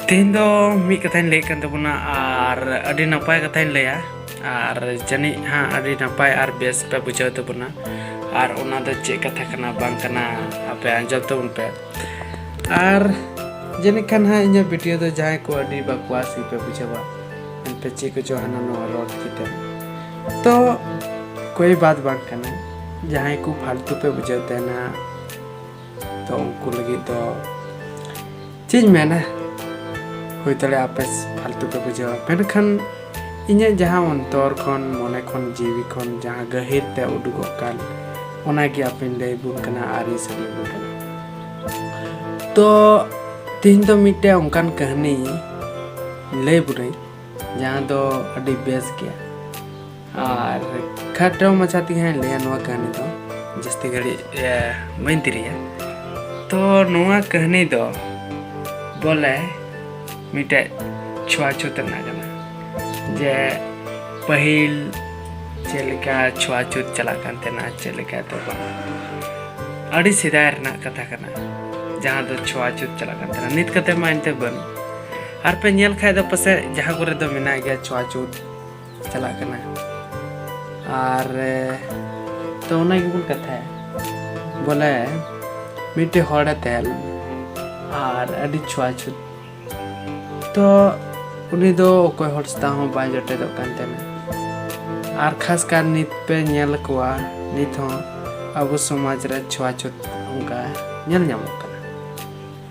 ᱛᱮᱦᱮᱧ ᱫᱚ ᱢᱤᱫ ᱠᱟᱛᱷᱟᱧ ᱞᱟᱹᱭᱮᱫ ᱠᱟᱱ ᱛᱟᱵᱚᱱᱟ ᱟᱨ ᱟᱹᱰᱤ ᱱᱟᱯᱟᱭ ᱠᱟᱛᱷᱟᱧ ᱞᱟᱹᱭᱟ ᱟᱨ ᱡᱟᱹᱱᱤᱡ ᱦᱟᱸᱜ ᱟᱹᱰᱤ ᱱᱟᱯᱟᱭ ᱟᱨ ᱵᱮᱥ ᱯᱮ ᱵᱩᱡᱷᱟᱹᱣ ᱛᱟᱵᱚᱱᱟ ᱟᱨ ᱚᱱᱟ ᱫᱚ ᱪᱮᱫ ᱠᱟᱛᱷᱟ ᱠᱟᱱᱟ ᱵᱟᱝ ᱠᱟᱱᱟ ᱟᱯᱮ ᱟᱸᱡᱚᱢ ᱛᱟᱵᱚᱱ ᱯᱮ ᱟᱨ ᱡᱟᱹᱱᱤᱡ ᱠᱷᱟᱱ ᱦᱟᱸᱜ ᱤᱧᱟᱹᱜ ᱵᱷᱤᱰᱤᱭᱳ ᱫᱚ ᱡᱟᱦᱟᱸᱭ ᱠᱚ ᱟᱹᱰᱤ ᱵᱟᱠᱣᱟᱥ ᱜᱮᱯᱮ ᱵᱩᱡᱷᱟᱹᱣᱟ ᱮᱱᱛᱮ ᱪᱮᱫ ᱠᱚᱪᱚ ᱦᱟᱱᱟ ᱱᱚᱣᱟ ᱨᱚᱲ ᱠᱟᱛᱮ ᱛᱚ ᱠᱚᱭ ᱵᱟᱫ ᱵᱟᱝ ᱠᱟᱱᱟ ᱡᱟᱦᱟᱸᱭ ᱠᱚ ᱯᱷᱟᱞᱛᱩ ᱯᱮ ᱵᱩᱡᱷᱟᱹᱣ ᱛᱟᱦᱮᱱᱟ ᱛᱚ ᱩᱱᱠᱩ ᱞᱟᱹᱜᱤᱫ ᱫᱚ ᱪᱮᱫ ᱤᱧ ᱢᱮᱱᱟ ᱦᱩᱭ ᱫᱟᱲᱮᱭᱟᱜᱼᱟ ᱟᱯᱮ ᱯᱷᱟᱞᱛᱩ ᱯᱮ ᱵᱩᱡᱷᱟᱹᱣᱟ ᱢᱮᱱᱠᱷᱟᱱ ᱤᱧᱟᱹᱜ ᱡᱟᱦᱟᱸ ᱚᱱᱛᱚᱨ ᱠᱷᱚᱱ ᱢᱚᱱᱮ ᱠᱷᱚᱱ ᱡᱤᱣᱤ ᱠᱷᱚᱱ ᱡᱟᱦᱟᱸ ᱜᱟᱹᱦᱤᱨ ᱛᱮ ᱩᱰᱩᱠᱚᱜ ᱠᱟᱱ ᱚᱱᱟᱜᱮ ᱟᱯᱮᱧ ᱞᱟᱹᱭ ᱵᱚᱱ ᱠᱟᱱᱟ ᱟᱨ ᱤᱧ ᱥᱟᱹᱨᱤ ᱵᱚᱱ ᱠᱟᱱᱟ ᱛᱚ ᱛᱮᱦᱮᱧ ᱫᱚ ᱢᱤᱫᱴᱮᱱ ᱚᱱᱠᱟᱱ ᱠᱟᱹᱦᱱᱤ ᱞᱟᱹᱭ ᱵᱚᱱᱟᱹᱧ ᱡᱟᱦᱟᱸ ᱫᱚ ᱟᱹᱰᱤ ᱵᱮᱥ ᱜᱮᱭᱟ ᱟᱨ ᱠᱷᱟᱴᱚ ᱢᱟᱪᱷᱟ ᱛᱮᱜᱮ ᱦᱟᱸᱜ ᱞᱟᱹᱭᱟ ᱱᱚᱣᱟ ᱠᱟᱹᱦᱱᱤ ᱫᱚ ᱡᱟᱹᱥᱛᱤ ᱜᱷᱟᱹᱲᱤᱡ ᱵᱟᱹᱧ ᱛᱤᱨᱤᱭᱟ ᱛᱚ ᱱᱚᱣᱟ ᱠᱟᱹᱦᱱᱤ ᱫᱚ ᱵᱚᱞᱮ ᱢᱤᱫᱴᱮᱡ ᱪᱷᱩᱣᱟᱪᱷᱩᱛ ᱨᱮᱱᱟᱜ ᱠᱟᱱᱟ ᱡᱮ ᱯᱟᱹᱦᱤᱞ ᱪᱮᱫ ᱞᱮᱠᱟ ᱪᱷᱩᱣᱟᱪᱷᱩᱛ ᱪᱟᱞᱟᱜ ᱠᱟᱱ ᱛᱟᱦᱮᱱᱟ ᱪᱮᱫ ᱞᱮᱠᱟ ᱫᱚ ᱵᱟᱝ ᱟᱹᱰᱤ ᱥᱮᱫᱟᱭ ᱨᱮᱱᱟᱜ ᱠᱟᱛᱷᱟ ᱠᱟᱱᱟ ᱡᱟᱦᱟᱸ ᱫᱚ ᱪᱷᱩᱣᱟᱪᱷᱩᱛ ᱪᱟᱞᱟᱜ ᱠᱟᱱ ᱛᱟᱦᱮᱱᱟ ᱱᱤᱛ ᱠᱟᱛᱮ ᱢᱟ ᱮᱱᱛᱮ ᱵᱟᱹᱱᱩᱜ ᱟᱨ ᱯᱮ ᱧᱮᱞ ᱠᱷᱟᱡ ᱫᱚ ᱯᱟᱥᱮᱡ ᱡᱟᱦᱟᱸ ᱠᱚᱨᱮ ᱫᱚ ᱢᱮᱱᱟᱜ ᱜᱮᱭᱟ ᱪᱷᱩᱣᱟᱪᱷᱩᱛ ᱪᱟᱞᱟᱜ ᱠᱟᱱᱟ ᱟᱨ ᱛᱚ ᱚᱱᱟ ᱜᱮᱵᱚᱱ ᱠᱟᱛᱷᱟᱭᱟ ᱵᱚᱞᱮ ᱢᱤᱫᱴᱮᱡ ᱦᱚᱲᱮ ᱛᱟᱦᱮᱸ ᱞᱮᱱᱟ ᱟᱨ ᱟᱹᱰᱤ ᱪᱷᱩᱣᱟᱪᱷᱩᱛ ᱛᱚ ᱩᱱᱤ ᱫᱚ ᱚᱠᱚᱭ ᱦᱚᱲ ᱥᱟᱶ ᱦᱚᱸ ᱵᱟᱭ ᱡᱚᱴᱮᱫᱚᱜ ᱠᱟᱱ ᱛᱟᱦᱮᱱᱟ ᱟᱨ ᱠᱷᱟᱥ ᱠᱟᱨ ᱱᱤᱛ ᱯᱮ ᱧᱮᱞ ᱠᱚᱣᱟ ᱱᱤᱛ ᱦᱚᱸ ᱟᱵᱚ ᱥᱚᱢᱟᱡᱽ ᱨᱮ ᱪᱷᱩᱣᱟᱪᱷᱩᱛ ᱚᱱᱠᱟ ᱧᱮᱞ ᱧᱟᱢᱚᱜ ᱠᱟᱱᱟ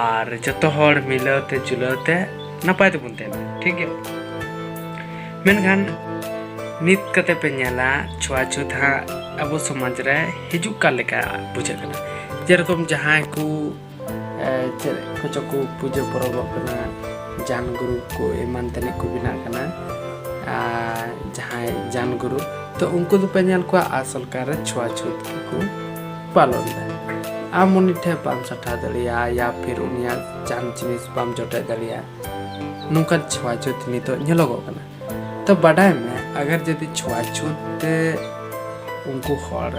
ᱟᱨ ᱡᱚᱛᱚ ᱦᱚᱲ ᱢᱤᱞᱟᱹᱣ ᱛᱮ ᱡᱩᱞᱟᱹᱣ ᱛᱮ ᱱᱟᱯᱟᱭ ᱛᱮᱵᱚᱱ ᱛᱟᱦᱮᱱᱟ ᱴᱷᱤᱠ ᱜᱮᱭᱟ ᱢᱮᱱᱠᱷᱟᱱ ᱱᱤᱛ ᱠᱟᱛᱮ ᱯᱮ ᱧᱮᱞᱟ ᱪᱷᱩᱣᱟ ᱪᱷᱩᱛ ᱦᱟᱸᱜ ᱟᱵᱚ ᱥᱚᱢᱟᱡᱽ ᱨᱮ ᱦᱤᱡᱩᱜ ᱠᱟᱱ ᱞᱮᱠᱟ ᱵᱩᱡᱷᱟᱹᱜ ᱠᱟᱱᱟ ᱡᱮᱨᱚᱠᱚᱢ ᱡᱟᱦᱟᱸᱭ ᱠᱚ ᱪᱮᱫ ᱠᱚᱪᱚ ᱠᱚ ᱯᱩᱡᱟᱹ ᱯᱚᱨᱚᱵᱚᱜ ᱠᱟᱱᱟ ᱡᱟᱱ ᱜᱩᱨᱩ ᱠᱚ ᱮᱢᱟᱱ ᱛᱮᱱᱤᱡ ᱠᱚ ᱵᱮᱱᱟᱜ ᱠᱟᱱᱟ ᱟᱨ ᱡᱟᱦᱟᱸᱭ ᱡᱟᱱ ᱜᱩᱨᱩ ᱛᱚ ᱩᱱᱠᱩ ᱫᱚᱯᱮ ᱧᱮᱞ ᱠᱚᱣᱟ ᱟᱥᱚᱞ ᱠᱟᱨ ᱨᱮ ᱪᱷᱩᱣᱟ ᱪᱷᱩᱛ ᱜᱮᱠᱚ ᱯᱟᱞᱚᱱ ᱫᱟ ᱟᱢ ᱩᱱᱤ ᱴᱷᱮᱱ ᱵᱟᱢ ᱥᱟᱴᱷᱟ ᱫᱟᱲᱮᱭᱟᱜᱼᱟ ᱭᱟ ᱯᱷᱤᱨ ᱩᱱᱤᱭᱟᱜ ᱡᱟᱱ ᱡᱤᱱᱤᱥ ᱵᱟᱢ ᱡᱚᱴᱮᱫ ᱫᱟᱲᱮᱭᱟᱜᱼᱟ ᱱᱚᱝᱠᱟᱱ ᱪᱷᱩᱣᱟ ᱪᱷᱩᱛ ᱱᱤᱛᱚᱜ ᱧᱮᱞᱚᱜᱚᱜ ᱠᱟᱱᱟ ᱛᱚ ᱵᱟᱰᱟᱭ ᱢᱮ ᱟᱜᱟᱨ ᱡᱩᱫᱤ ᱪᱷᱩᱣᱟ ᱪᱷᱩᱛ ᱛᱮ ᱩᱱᱠᱩ ᱦᱚᱲ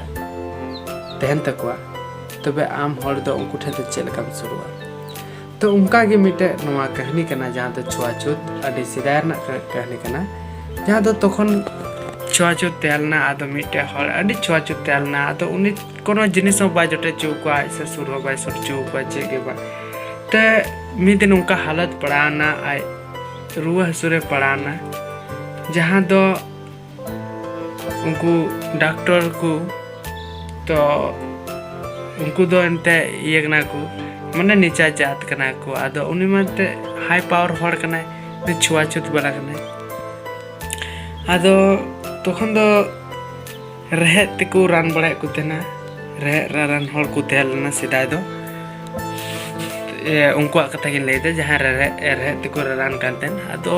ᱛᱟᱦᱮᱱ ᱛᱟᱠᱚᱣᱟ ᱛᱚᱵᱮ ᱟᱢ ᱦᱚᱲ ᱫᱚ ᱩᱱᱠᱩ ᱴᱷᱮᱱ ᱫᱚ ᱪᱮᱫ ᱞᱮᱠᱟᱢ ᱥᱩᱨᱩᱜᱼᱟ ᱛᱚ ᱚᱱᱠᱟ ᱜᱮ ᱢᱤᱫᱴᱮᱡ ᱱᱚᱣᱟ ᱠᱟᱹᱦᱱᱤ ᱠᱟᱱᱟ ᱡᱟᱦᱟᱸ ᱫᱚ ᱪᱷᱩᱣᱟᱪᱷᱩᱛ ᱟᱹᱰᱤ ᱥᱮᱫᱟᱭ ᱨᱮᱱᱟᱜ ᱠᱟᱹᱦᱱᱤ ᱠᱟᱱᱟ ᱡᱟᱦᱟᱸ ᱫᱚ ᱛᱚᱠᱷᱚᱱ ᱪᱷᱩᱣᱟᱪᱷᱩᱛ ᱛᱟᱦᱮᱸ ᱞᱮᱱᱟ ᱟᱫᱚ ᱢᱤᱫᱴᱮᱡ ᱦᱚᱲ ᱟᱹᱰᱤ ᱪᱷᱩᱣᱟᱪᱷᱩᱛ ᱛᱟᱦᱮᱸ ᱞᱮᱱᱟ ᱟᱫᱚ ᱩᱱᱤ ᱠᱳᱱᱳ ᱡᱤᱱᱤᱥ ᱦᱚᱸ ᱵᱟᱭ ᱡᱚᱴᱮᱫ ᱦᱚᱪᱚ ᱠᱚᱣᱟ ᱟᱡ ᱥᱮ ᱥᱩᱨ ᱦᱚᱸ ᱵᱟᱭ ᱥᱩᱨ ᱦᱚᱪᱚ ᱠᱚᱣᱟ ᱪᱮᱫ ᱜᱮ ᱵᱟᱝ ᱛᱮ ᱢᱤᱫ ᱫᱤᱱ ᱚᱱᱠᱟ ᱦᱟᱞᱚᱛ ᱯᱟᱲᱟᱣᱱᱟ ᱟᱡ ᱨᱩᱣᱟᱹ ᱦᱟᱹᱥᱩ ᱨᱮ ᱯᱟᱲᱟᱣᱱᱟ ᱡᱟᱦᱟᱸ ᱫᱚ ᱩᱱᱠᱩ ᱰᱟᱠᱴᱚᱨ ᱠᱚ ᱛᱚ ᱩᱱᱠᱩ ᱫᱚ ᱮᱱᱛᱮ ᱤᱭᱟᱹ ᱠᱟᱱᱟ ᱠᱚ ᱢᱟᱱᱮ ᱱᱤᱪᱟ ᱡᱟᱛ ᱠᱟᱱᱟ ᱠᱚ ᱟᱫᱚ ᱩᱱᱤ ᱢᱟ ᱮᱱᱛᱮ ᱦᱟᱭ ᱯᱟᱣᱟᱨ ᱦᱚᱲ ᱠᱟᱱᱟᱭ ᱪᱷᱩᱣᱟ ᱪᱷᱩᱛ ᱵᱟᱞᱟ ᱠᱟᱱᱟᱭ ᱟᱫᱚ ᱛᱚᱠᱷᱚᱱ ᱫᱚ ᱨᱮᱦᱮᱫ ᱛᱮᱠᱚ ᱨᱟᱱ ᱵᱟᱲᱟᱭᱮᱫ ᱠᱚ ᱛᱟᱦᱮᱱᱟ ᱨᱮᱦᱮᱫ ᱨᱟᱱ ᱦᱚᱲ ᱠᱚ ᱛᱟᱦᱮᱸ ᱞᱮᱱᱟ ᱥᱮᱫᱟᱭ ᱫᱚ ᱩᱱᱠᱩᱣᱟᱜ ᱠᱟᱛᱷᱟ ᱜᱤᱧ ᱞᱟᱹᱭᱫᱟ ᱡᱟᱦᱟᱸ ᱨᱮᱦᱮᱫ ᱨᱮᱦᱮᱫ ᱛᱮᱠᱚ ᱨᱟᱱ ᱠᱟᱱ ᱛᱟᱦᱮᱱ ᱟᱫᱚ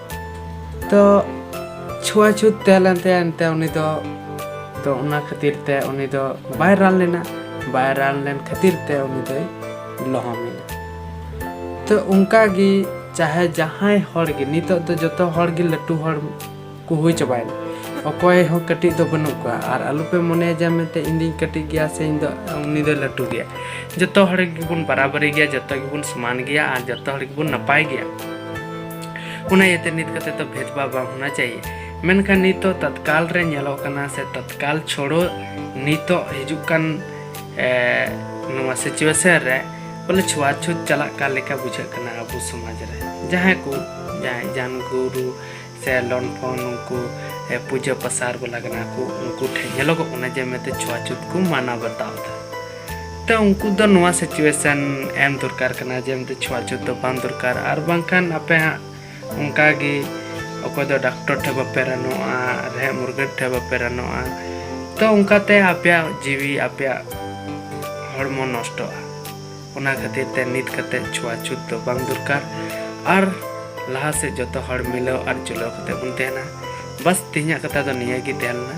ᱛᱚ ᱪᱷᱩᱣᱟ ᱪᱷᱩᱛ ᱛᱟᱦᱮᱸ ᱞᱮᱱ ᱛᱟᱭᱟ ᱮᱱᱛᱮ ᱩᱱᱤ ᱫᱚ ᱛᱚ ᱚᱱᱟ ᱠᱷᱟᱹᱛᱤᱨ ᱛᱮ ᱩᱱᱤ ᱫᱚ ᱵᱟᱭ ᱨᱟᱱ ᱞᱮᱱᱟ ᱵᱟᱭ ᱨᱟᱱ ᱞᱮᱱ ᱠᱷᱟᱹᱛᱤᱨ ᱛᱮ ᱩᱱᱤ ᱫᱚᱭ ᱞᱚᱦᱚᱢᱮᱱᱟ ᱛᱚ ᱚᱱᱠᱟ ᱜᱮ ᱪᱟᱦᱮ ᱡᱟᱦᱟᱸᱭ ᱦᱚᱲ ᱜᱮ ᱱᱤᱛᱚᱜ ᱫᱚ ᱡᱚᱛᱚ ᱦᱚᱲ ᱜᱮ ᱞᱟᱹᱴᱩ ᱦᱚᱲ ᱠᱚ ᱦᱩᱭ ᱪᱟᱵᱟᱭᱮᱱᱟ ᱚᱠᱚᱭ ᱦᱚᱸ ᱠᱟᱹᱴᱤᱡ ᱫᱚ ᱵᱟᱹᱱᱩᱜ ᱠᱚᱣᱟ ᱟᱨ ᱟᱞᱚᱯᱮ ᱢᱚᱱᱮᱭᱟ ᱡᱮ ᱢᱮᱱᱛᱮ ᱤᱧ ᱫᱚᱧ ᱠᱟᱹᱴᱤᱡ ᱜᱮᱭᱟ ᱥᱮ ᱤᱧ ᱫᱚ ᱩᱱᱤ ᱫᱚ ᱞᱟᱹᱴᱩ ᱜᱮᱭᱟ ᱡᱚᱛᱚ ᱦᱚᱲ ᱜᱮᱵᱚᱱ ᱵᱟᱨᱟᱵᱟᱨᱤ ᱜᱮᱭᱟ ᱡᱚᱛᱚ ᱜᱮᱵᱚᱱ ᱥᱚᱢᱟᱱ ᱜᱮᱭᱟ ᱟᱨ ᱡᱚᱛᱚ ᱦᱚᱲ ᱜᱮᱵᱚᱱ ᱱᱟᱯᱟᱭ ᱜᱮᱭᱟ ᱚᱱᱟ ᱤᱭᱟᱹᱛᱮ ᱱᱤᱛ ᱠᱟᱛᱮ ᱫᱚ ᱵᱷᱮᱫᱽᱵᱷᱟᱣ ᱵᱟᱝ ᱦᱳᱱᱟ ᱪᱟᱦᱤᱭᱮ ᱢᱮᱱᱠᱷᱟᱱ ᱱᱤᱛᱚᱜ ᱛᱚᱛᱠᱟᱞ ᱨᱮ ᱧᱮᱞᱚᱜ ᱠᱟᱱᱟ ᱥᱮ ᱛᱚᱛᱠᱟᱞ ᱪᱷᱚᱲᱚ ᱱᱤᱛᱚᱜ ᱦᱤᱡᱩᱜ ᱠᱟᱱ ᱱᱚᱣᱟ ᱥᱤᱪᱩᱭᱮᱥᱚᱱ ᱨᱮ ᱵᱚᱞᱮ ᱪᱷᱩᱣᱟ ᱪᱷᱩᱛ ᱪᱟᱞᱟᱜ ᱠᱟᱱ ᱞᱮᱠᱟ ᱵᱩᱡᱷᱟᱹᱜ ᱠᱟᱱᱟ ᱟᱵᱚ ᱥᱚᱢᱟᱡᱽ ᱨᱮ ᱡᱟᱦᱟᱸᱭ ᱠᱚ ᱡᱟᱦᱟᱸᱭ ᱡᱟᱱ ᱜᱩᱨᱩ ᱥᱮ ᱞᱚᱱᱯᱷᱚᱱ ᱩᱱᱠᱩ ᱯᱩᱡᱟᱹ ᱯᱟᱥᱟᱨ ᱵᱟᱞᱟ ᱠᱟᱱᱟ ᱠᱚ ᱩᱱᱠᱩ ᱴᱷᱮᱱ ᱧᱮᱞᱚᱜᱚᱜ ᱠᱟᱱᱟ ᱡᱮ ᱢᱮᱱᱛᱮ ᱪᱷᱩᱣᱟ ᱪᱷᱩᱛ ᱠᱚ ᱢᱟᱱᱟᱣ ᱵᱟᱛᱟᱣ ᱮᱫᱟ ᱛᱚ ᱩᱱᱠᱩ ᱫᱚ ᱱᱚᱣᱟ ᱥᱤᱪᱩᱭᱮᱥᱚᱱ ᱮᱢ ᱫᱚᱨᱠᱟᱨ ᱠᱟᱱᱟ ᱡᱮ ᱢᱤᱫ ᱪᱷᱩᱣᱟ ᱪᱷᱩᱛ ᱫᱚ ᱵᱟᱝ ᱫᱚᱨᱠᱟᱨ ᱟᱨ ᱵᱟᱝᱠᱷᱟᱱ ᱟᱯᱮ ᱦᱟᱸᱜ ᱚᱱᱠᱟ ᱜᱮ ᱚᱠᱚᱭ ᱫᱚ ᱰᱟᱠᱴᱚᱨ ᱴᱷᱮᱱ ᱵᱟᱯᱮ ᱨᱟᱱᱚᱜᱼᱟ ᱨᱮᱦᱮᱫ ᱢᱩᱨᱜᱟᱹᱱ ᱴᱷᱮᱱ ᱵᱟᱯᱮ ᱨᱟᱱᱚᱜᱼᱟ ᱛᱚ ᱚᱱᱠᱟᱛᱮ ᱟᱯᱮᱭᱟᱜ ᱡᱤᱣᱤ ᱟᱯᱮᱭᱟᱜ ᱦᱚᱲᱢᱚ ᱱᱚᱥᱴᱚᱜᱼᱟ ᱚᱱᱟ ᱠᱷᱟᱹᱛᱤᱨ ᱛᱮ ᱱᱤᱛ ᱠᱟᱛᱮ ᱪᱷᱩᱣᱟ ᱪᱷᱩᱛ ᱫᱚ ᱵᱟᱝ ᱫᱚᱨᱠᱟᱨ ᱟᱨ ᱞᱟᱦᱟ ᱥᱮᱫ ᱡᱚᱛᱚ ᱦᱚᱲ ᱢᱤᱞᱟᱹᱣ ᱟᱨ ᱡᱩᱞᱟᱹᱣ ᱠᱟᱛᱮ ᱵᱚᱱ ᱛᱟᱦᱮᱱᱟ ᱵᱟᱥ ᱛᱮᱦᱮᱧᱟᱜ ᱠᱟᱛᱷᱟ ᱫᱚ ᱱᱤᱭᱟᱹ ᱜᱮ ᱛᱟᱦᱮᱸ ᱞᱮᱱᱟ